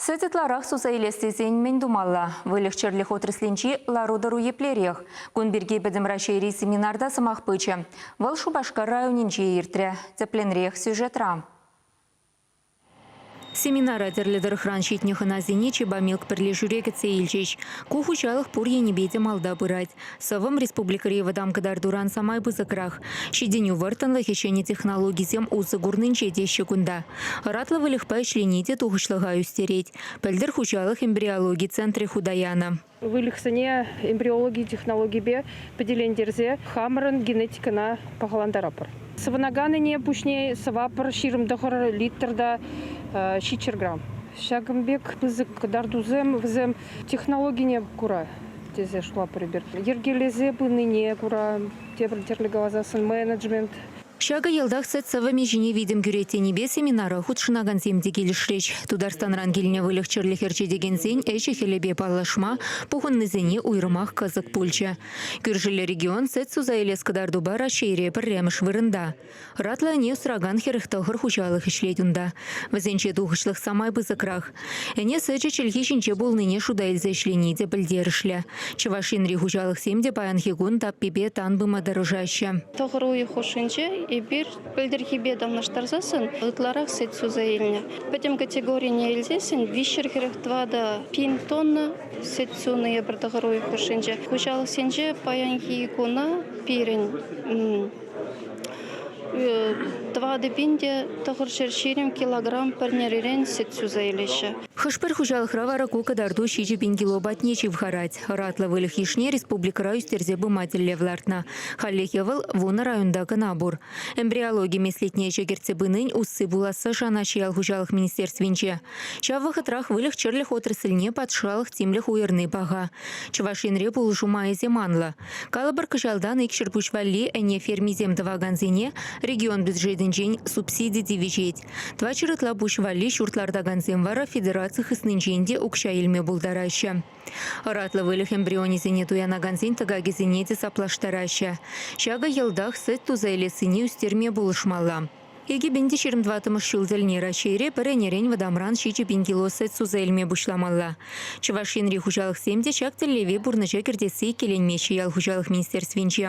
Сӗт ытларах суса илес тесен мӗн тумалла? Выльӑх-чӗрлӗх отраслӗнчи лару-тӑру еплерех? Кун пирки Пӗтӗм Раҫҫейри семинарта сӑмах пычӗ. Вӑл Шупашкар районӗнче иртрӗ. Тӗплӗнрех сюжетра. Семинара тӗрлӗ тӑрӑхран ҫитнӗ хӑнасене Чебамилк пӗрлешӳре кӗтсе илчӗҫ. Ку хуҫалӑх пур енӗпе те малта пырать. Сӑвӑм республикӑри вӑтам кӑтартуран самай пысӑкрах. Ҫитӗнӳ вӑрттӑнлӑхӗ ҫӗнӗ технологисем усӑ курнинче теҫҫӗ кунта. Ӑратлӑ выльӑхпа ӗҫлени те тухӑҫлӑха ӳстерет, пӗлтӗр хуҫалӑх эмбриологи центрӗ хута янӑ. Выльӑхсене эмбриологи технологипе пӗтелентерсе хамӑрӑн генетикӑна пахалантаратпӑр. Сӑвӑнаканӗне пуҫне сӑвапӑр ҫирӗм тӑхӑр литр та ҫиччӗр грамм. Ҫакӑн пек пысӑк кӑтартусем вӗсем технологине кура тесе шутлатпӑр эпир. Йӗркелесе пынине кура тепӗр тӗрлӗ каласан менеджмент Ҫакӑ ялтах сӗт сӑвӑмӗ ҫине витӗм кӳрет тенипе семинара хутшӑнакансем те килӗшрӗҫ. Тутарстанран килнӗ выльӑх-чӗрлӗх ӗрчетекенсен ӗҫӗ-хӗлӗпе паллашма пухӑннисене уйрӑмах кӑсӑк пулчӗ. Кӳршӗллӗ регион сӗт суса илес кӑтартупа Раҫҫейре пӗрремӗш вырӑнта. Ӑратлӑ ӗне сӑракан хӗрӗх тӑхӑр хуҫалӑх ӗҫлет унта. Вӗсенче тухӑҫлӑх самай пысӑкрах. Ӗне сӗчӗ чӗлхи ҫинче пулнине шута илсе ӗҫлени те пӗлтерӗшлӗ. Чӑваш Енри хуҫалӑхсем те паянхи кун таппипе тан пыма тӑрӑшаҫҫӗ. Тӑхӑр уйӑх хушшинче эпир пӗлтӗрхипе танлаштарсассӑн ытларах сӗт суса илнӗ. Пӗтӗм категорине илсессӗн виҫҫӗр хӗрӗх тӑватӑ пин тонна сӗт сунӑ эпир тӑхӑр уйӑх хушшинче. Хуҫалӑхсенче паянхи куна пирӗн Тӑватӑ пин те тӑхӑр ҫӗр ҫирӗм килограмм пӗрнерирен сӗт суса илеҫҫӗ. Хӑш-пӗр хуҫалӑхра вара ку кӑтарту ҫичӗ пин кило патне ҫывхарать. Ӑратлӑ выльӑх йышне республикӑра ӳстерсе пыма тӗллев лартнӑ. Хальлӗхе вӑл вунӑ районта кӑна пур. Эмбриологи меслетне ӗҫе кӗртсе пынин усси пуласса шанаҫҫӗ ял хуҫалӑх министерствинче. Ҫав вӑхӑтрах выльӑх-чӗрлӗх отрасльне патшалӑх тимлӗх уйӑрни паха. Чӑваш Енре пулӑшу майӗсем анлӑ. Калӑпӑр, кӑҫалтан ик ҫӗрпуҫ валли ӗне фермисем тӑвакансене регион бюджетӗнчен субсиди тивӗҫет. Тӑватҫӗр ытла пуҫ валли ҫурт лартакансем вара федераци хыснинчен те укҫа илме пултараҫҫӗ. Ӑратлӑ выльӑх эмбрионӗсене туянакансен тӑкакӗсене те саплаштараҫҫӗ. Ҫакӑ йӑлтах сӗт туса илессине ӳстерме пулӑшмалла. Икӗ пин те ҫирӗм тӑваттӑмӗш ҫул тӗлне Раҫҫейре пӗр ӗнерен вӑтамран ҫичӗ пин кило сӗт суса илме пуҫламалла. Чӑваш Енри хуҫалӑхсем те ҫак тӗллеве пурнӑҫа кӗртесси иккӗленмест-ши ял хуҫалӑх министерствинче.